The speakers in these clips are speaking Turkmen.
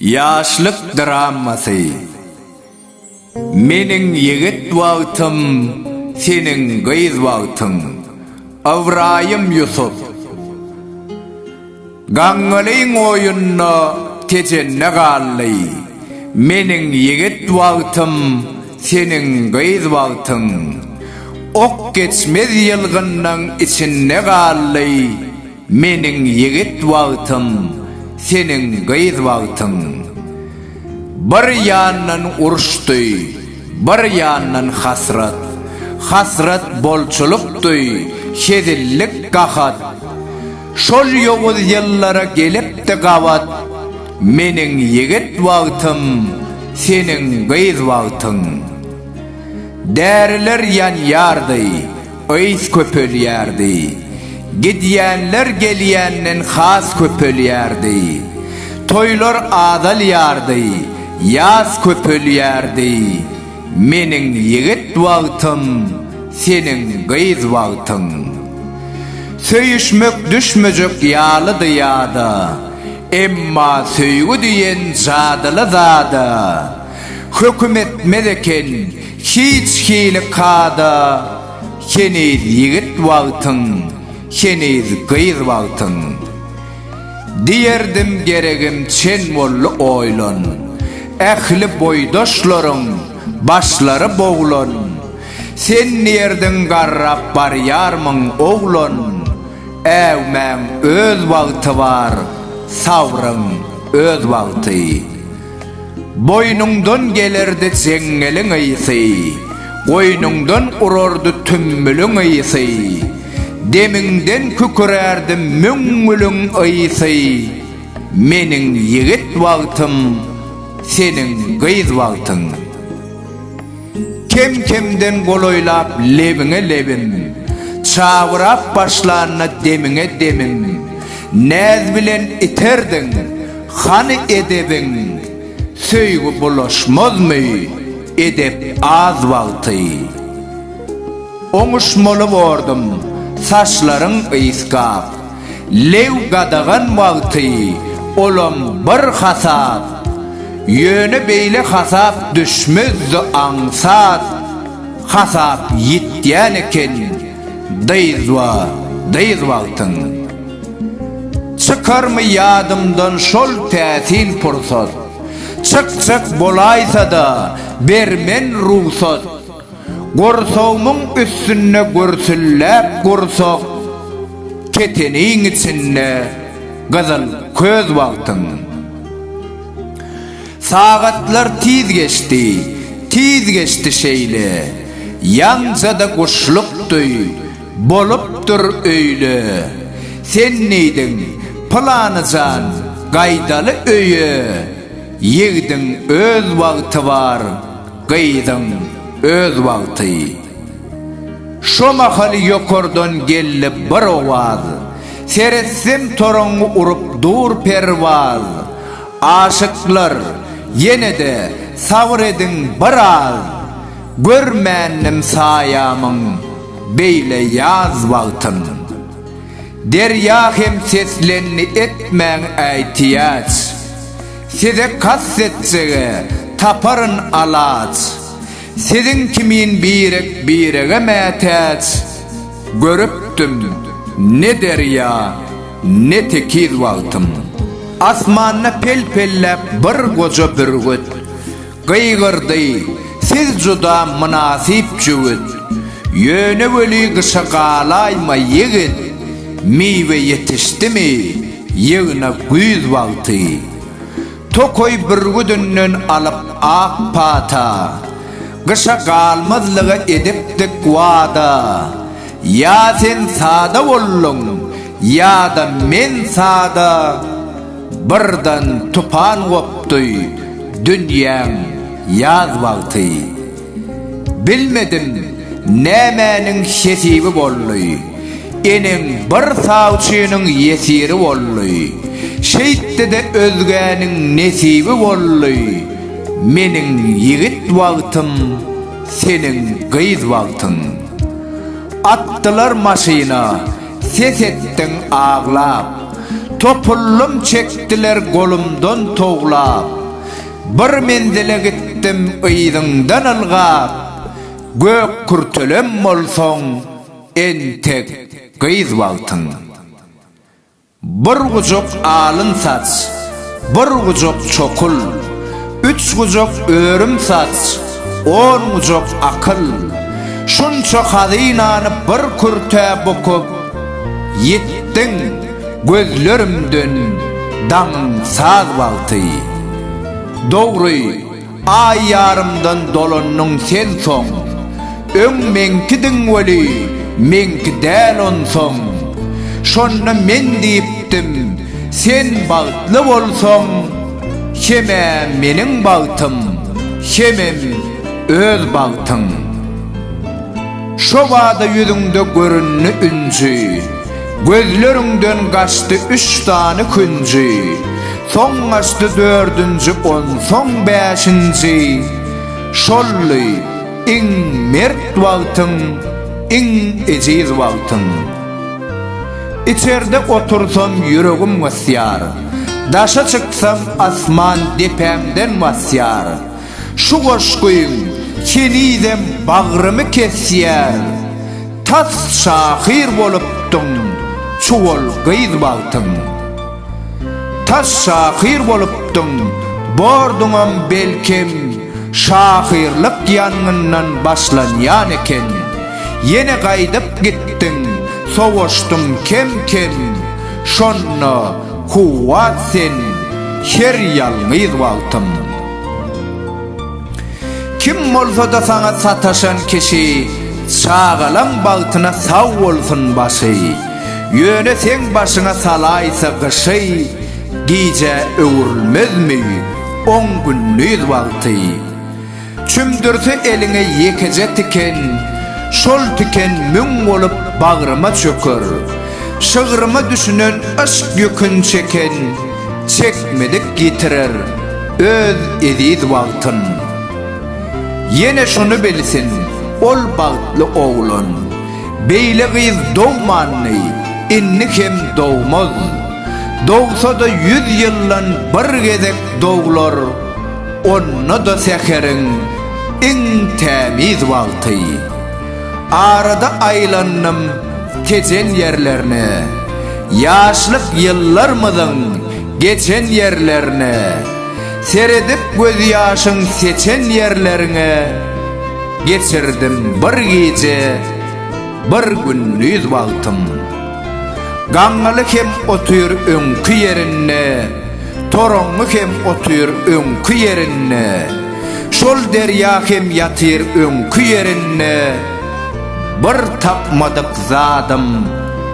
Ýaşlyk dramasy Meniň ýigit wagtym, seniň gyz wagtyň. Ybraýym Ýusup. Gaňňalyň oýunda Tejende galdy. Meniň ýigit wagtym, seniň gyz wagtyň. Ok geçmez ýylgynnyň içinde galdy. Meniň ýigit wagtym, seniň gyz wagtyň. Bir ýandan uruşdy, bir ýandan hasrat. Hasrat bolçulykdy, hezillik gahat. Şol ýowuz ýyllara gelipdi gabat, Meniň ýigit wagtym, seniň gyz wagtyň. Däriler ýanýardy, ys köpelýärdi, Gidýänler gelýänden has köpelýärdi. Toýlar azalýardy, ýas köpelýärdi. Meniň ýigit wagtym, seniň gyz wagtyň. Söýüşmek düşmejek ýalydy ýada, Emma söýgi diýen jadyly zada, Höküm etmez eken hiç hili kada, Heniz ýigit wagtyň, heniz gyz wagtyň. Diýerdim geregim çen boldy oýlan, Ähli boýdaşlaryň başlary boglan, Sen nirdiň garrap barýarmyň oglan, Äwmäň öz wagty bar, sabryň öz wagty. Boýnuňdan gelerdi jeňňeliň ysy, Goýnuňdan urardy tümmüliň ysy, Demiňden kükürärdi müňňüliň ysy, Meniň ýigit wagtym, seniň gyz wagtyň. Kem-kemden golaýlap lebiňe lebim, Çabyrap başlanda demiňe demim, Näz bilen iterdiň, hany edebiň, Söýgi bulaşmazmy edep az wagty. Oňuşmaly bordum, saçlaryň ysgap, Lew gadagan wagty olam bir hasap, ýöne beýle hasap düşmezdi aňsat hasap ýitýän eken dyzba dyz wagtyň Çykarmy ýadymdan şol täsin pursat Çykjak bolaýsada bermen rugsat Gursagymyň üstünde gürsülläp gursak, Keteniň içinde gyzyl köz wagtyň. Sagatlar tiz geçdi, tiz geçdi şeýle, Ýaňja-da guşluk duý, bolupdyr öýle. Sen diýdiň, Pylany jan, gaýdaly öýe, Ýigdiň öz wagty bar, Gyzyň öz wagty. Şo mahaly ýokardan geldi bir owaz, Seretsem toraňňy urup dur perwaz. Aşyklar, ýene-de sabyr ediň bir az, Görmändim saýamyň beýle ýaz wagtyn. Derýa hem seslendi etmäň äýtiýaç. Size kast etsege, taparyn alaç, Siziň kimin birek birege mätäç. Görüpdim, ne derýa, ne tekiz wagtym. Asmanda pel-pelläp bir goja bürgüt. Gygyrdy, Siz juda mynasyp jübüt. Ýöne weli gyşa galaýma, ýigit. Miwe ýetişdimi, ýygna güýz wagty. Tokaý bürgüdinden alyp ak pata. Gyşa galmazlyga edipdik wada. Ýa sen sada bolduň, ýa-da men sada. Birden tupan gopdy dünýäň ýaz wagty. Bilmedim nämäniň hesibi boldy. Eneň bir sawçynyň ýesiri boldy. Şeýtdi-de özgäniň nesibi boldy. Meniň ýigit wagtym, seniň gyz wagtyň. Atdylar maşyna. Ses etdiň aglap. Topullym çekdiler golumdan towlap. Bir menzile gitdim yzyňdan ylgap. Gök kürtelem bolsaň, entek gyz bagtyň. Bir gujak alyn saç. Bir gujak çokul, üç gujak örüm saç, on gujak akyl, şunça hazynany bir kürtä bukup, ýitdiň, gözlerimden daňyň saz wagty. Dogry. Aý ýarymdan dolandyň sen soň. Öň meňkidiň weli, meňki däl onsoň. Şonda men diýipdim, sen bagtly bolsaň, Hem-ä meniň bagtym, hemem öz bagtyň. Şo bada ýüzüňde göründi ünsi. Gözleriňden gaçdy üç sany künji, Soň gaçdy dördünji, onsoň bäşinji. Şoldy iň mert wagtyň, iň ejiz wagtyň. Içerde otursam ýüregim gysýar, Daşa çyksam asman depämden basýar. Şu goşgyň henizem bagrymy kesýär, Tas şahyr bolupdyň çuwal gyz wagtyň. Tas şahyr bolupdyň, borduňam belkem, Şahyrlyk ýangyndan başlanýan eken. Ýene gaýdyp gitdiň, sowaşdyň kem-kem, Şonda kuwwat sen her ýalňyz wagtyň. Kim bolsada saňa sataşan kişi Çagalaň bagtyna sag bolsun başy Ýöne seň başyňa salaýsa gyşy Gijä öwrülmezmi on gündiz wagty Çümdürse eliňe ýekeje tiken Şol tiken müň bolup bagryma çöker Şygryma düşünen yşk ýükün çeken Çekmedik ýitirer öz eziz wagtyn. Ýene şuny bilsin, ol bagtly oglan, Beýle gyz dogmandy, indi hem dogmaz. Dogsa-da ýüz ýyldan bir gezek doglar, Onda-da säheriň iň tämiz wagty. Arada aýlandym Tejen ýerlerine, Ýaşlyk ýyllarmyzyň geçen ýerlerine, Seredip gözýaşyň seçen ýerleriňe, Geçirdim bir gije, bir gündiz wagtym. Gaňňaly hem otyr öňki ýerinde, Toraňňy hem otyr öňki ýerinde, Şol derýa hem ýatyr öňki ýerinde, Bir tapmadyk zadym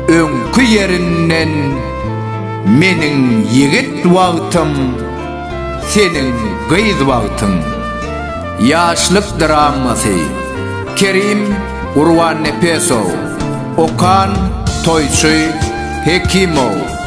öňki ýerinden, Meniň ýigit wagtym, seniň gyz wagtyň. Ýaşlyk dramasy. Kerim Gurbannepesow. Okan Toýçy Hekimow.